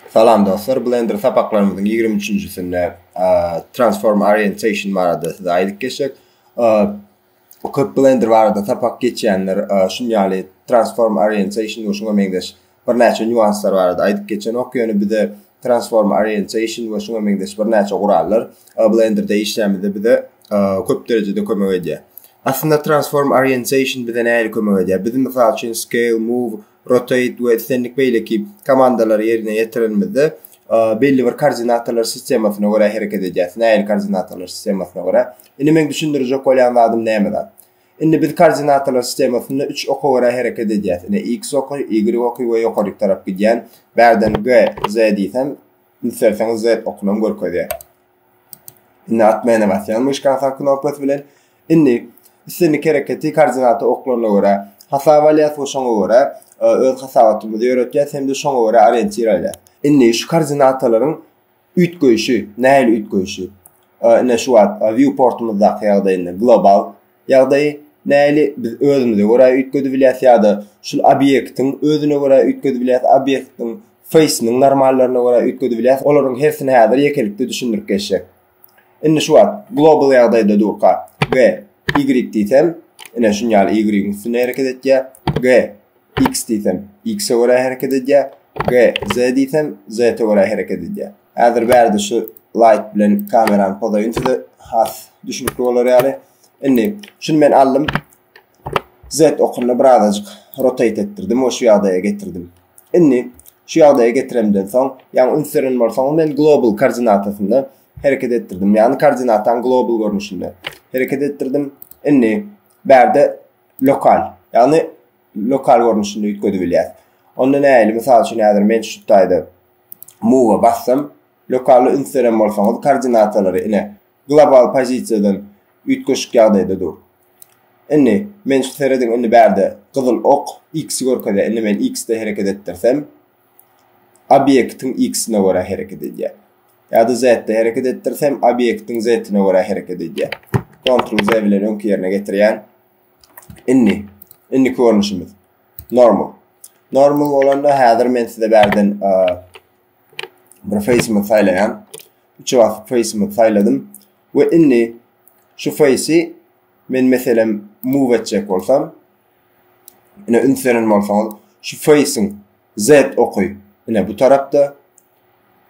Salam dostlar, Blender sapaklarymyzyň 23-njisinde Transform Orientation barada size aýdyp geçsek, köp Blender barada sapak geçýänler şun ýaly Transform Orientation we şuňa meňzeş birnäçe nýuanslar barada aýdyp geçenok, ýöne bize Transform Orientation we şuňa meňzeş birnäçe gurallar Blenderde işlämizde bize köp derejede kömek edýär. Aslynda transform orientation bize nähili kömek edýär? Biz mysal üçin scale, move, rotate we islendik beýleki komandalary ýerine ýetirenimizde belli bir koordinatalar sistemasyna görä hereket edýäs. Nähili koordinatalar sistemasyna görä? Indi men düşündirjek bolýan zadym näme zat? Indi biz koordinatalar sistemasynda 3 oka görä hereket edýäs. Ine x oky, y oky we ýokaryk tarap gidýän. Bärden g, z diýsem, isterseňiz z okunam görkezýär. Indi at mäne basýan myşkan sag knopkasy bilen. Indi islendik hereketi koordinata oklaryna görä hasap alýas we şoňa görä e, öz hasabatymyzy ýöretýäs hem-de şoňa görä orientir alýas. Indi şu koordinatalaryň üýtgeýşi, nähili üýtgeýşi? E, indi şu wagt e, viewportymyzdaky ýagdaýynda global Ýagdaýy näli biz özümize görä üýtgedibilýäs ýa-da şul obýektiň özüne görä üýtgedibilýäs, obýektiň feýsiniň normallaryna görä üýtgedibilýäs, olaryň hersini häzir ýekelikde düşündirip geçjek. Indi şu wagt global ýagdaýda durka, G, Y diýsem, ine şunýaly Y-yň üstünde hereket etýär, G, X diýsem, X-e görä hereket edýär. G, Z diýsem, Z-e görä hereket edýär. Häzir bärde şu light bilen kamerany pozaýyn size has düşünikli bolar ýaly. Indi şuny men aldym. Z okunda birazajyk rotate etdirdim we şu ýagdaýa getirdim. Indi şu ýagdaýa getiremden soň, ýagny üns beren bolsaňyz men global koordinatasynda hereket etdirdim. Ýagny koordinatany global görnüşinde hereket etdirdim. Indi bärde lokal, ýagny lokal görnüşinde üýtgedip bilýäs. Onda nähili? Mysal üçin, häzir men şu taýda move bassam, lokaly üns beren bolsaňyz, koordinatalary ine global pozisiýadan üýtgeşik ýagdaýda dur. Indi men şu serediň, indi bärde gyzyl ok x-i görkezýär. Indi men x-de hereket etdirsem, obýektiň x-ine görä hereket edýär. Ýa-da z-de hereket etdirsem, obýektiň z-ine görä hereket edýär. Ctrl Z bilen öňki ýerine getirýän. Indi, indi görnüşimiz normal. Normal bolanda häzir men size bärden bir face-mi saýlaýan. Üç wagt face-mi saýladym we indi şu face-i men meselem move etjek bolsam, Ine üns beren bolsaňyz, şu face-iň Z oky ine bu tarapda,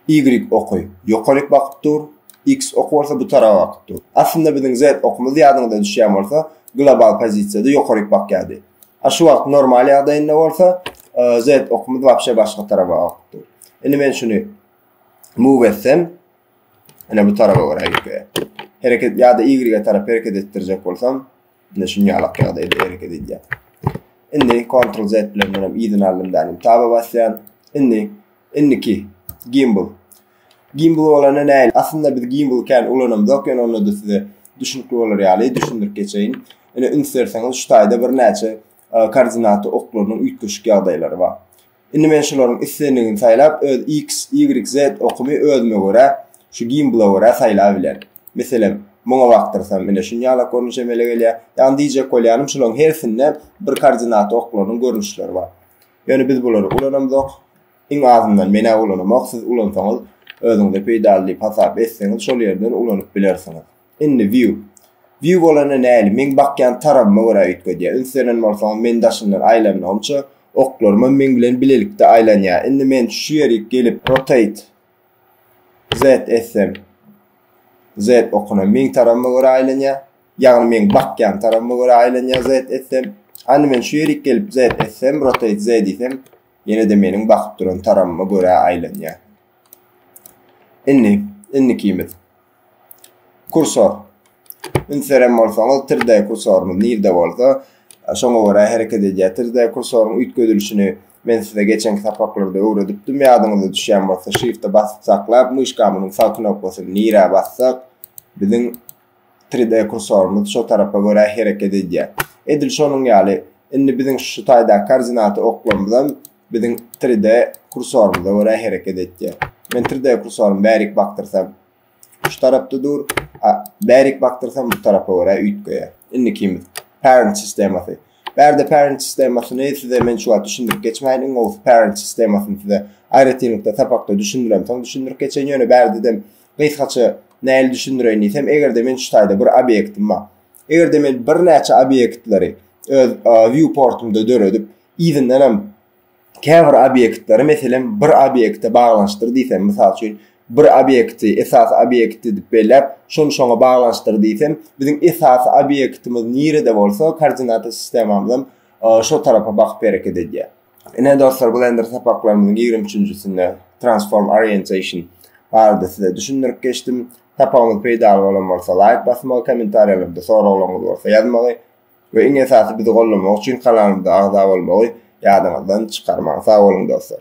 Y oky ýokaryk bakyp dur, X oky bolsa bu tarapa bakyp dur. Aslynda biziň Z okumyz ýadyňyza düşýän bolsa, global pozisiýada ýokaryk bakýardy. A şu wagt normal ýagdaýynda bolsa, e, Z okumyz wapşe başga tarapa bakyp dur. Indi men şuny move etsem, ine bu tarapa görä ýöke. Hereket ýa-da Y-e tarap hereket etdirjek bolsam, Indi şu ýalak ýagdaýda hereket edýär. Indi Ctrl Z bilen menem yzyny aldym dälim. Taba basýan. Indi indiki gimbal. Gimbal bolanda näl? Aslynda biz gimbal kän ulanamzok, ýöne onda da size düşünikli bolar ýaly düşündirip geçeýin. Indi üns berseňiz şu taýda bir näçe e, koordinaty oklarynyň üýtgeşik ýagdaýlary bar. Indi men şularyň islendigini saýlap, öz X, Y, Z okumy özüme görä, şu gimbla görä saýlap bilen. Meselem, muňa bakdyrsam, ine şunýalak görnüş emele gelýär. Ýagny diýjek bolýanym, şularyň hersinde bir koordinata oklarynyň görnüşleri bar. Ýöne biz bulary ulanamzok. Iň azyndan men-ä ulanamok, siz ulansaňyz özüňize peýdaly diýip hasap etseňiz, şol ýerden ulanyp bilersiňiz. Indi view. View bolanda näli? Meň bakýan tarabyma görä üýtgedýär. Üns beren bolsaňyz men daşyndan aýlanmagymça oklarymam meň bilen bilelikde aýlanýar. Indi men şu ýerik gelip rotate Z etsem Z okunyam meň tarabyma görä aýlanýar. Ýagny meň bakýan tarabyma görä aýlanýar Z etsem. Hany men şu ýerik gelip Z etsem rotate Z diýsem ýene-de meniň bakyp duran tarabyma görä aýlanýar. Indi indikimiz. Kursor. Üns beren bolsaňyz, 3D kursorymyz nirde bolsa, şoňa görä hereket edýär. 3D kursoryň üýtgedilişini men size geçenki sapaklarda öwredipdim. Ýadyňyza düşýän bolsa, Shift-e basyp saklap, myşkamyzyň sag knopkasyny nirä bassak, biziň 3D kursorymyz şo tarapa görä hereket edýär. Edil şonuň ýaly, indi biziň şu taýdaky koordinaty oklarymyzam biziň 3D kursorymyza görä hereket etýär. Men 3D kursorymy bärik bakdyrsam, şu tarapda dur, bärik bakdyrsam bu tarapa görä üýtgeýär. Indikimiz parent sistemasy. Bärde parent sistemasyny size men şu wagt düşündirip geçmäýin. Iň gowusy parent sistemasyny size aýratynlykda sapakda düşündirem, soň düşündirip geçen ýöne bärde dem gysgaça näl düşündireýin diýsem, eger-de men şu taýda bir obýektim bar. Eger-de men birnäçe obýektleri öz viewportumda döredip, Yzyndan hem käbir obýektleri, meselem, bir obýekte baglanyşdyr diýsem, mysal üçin, bir obýekti esasy obýekt edip belläp, şony şoňa baglanyşdyr diýsem, biziň esasy obýektimiz nirede bolsa, koordinata sistemamyz hem şo tarapa bakyp hereket edýär. Ine, dostlar, Blender sapaklarymyzyň ýigrimi üçünjisinde Transform Orientation barada size düşündirip geçdim. Sapagymyz peýdaly bolan bolsa, laýk basmagy, kommentariýalarda soraglaryňyz bolsa ýazmagy, We iň esasy bizi gollamak üçin kanalymyza agza bolmagy ýadyňyzdan çykarmaň sag boluň dostlar.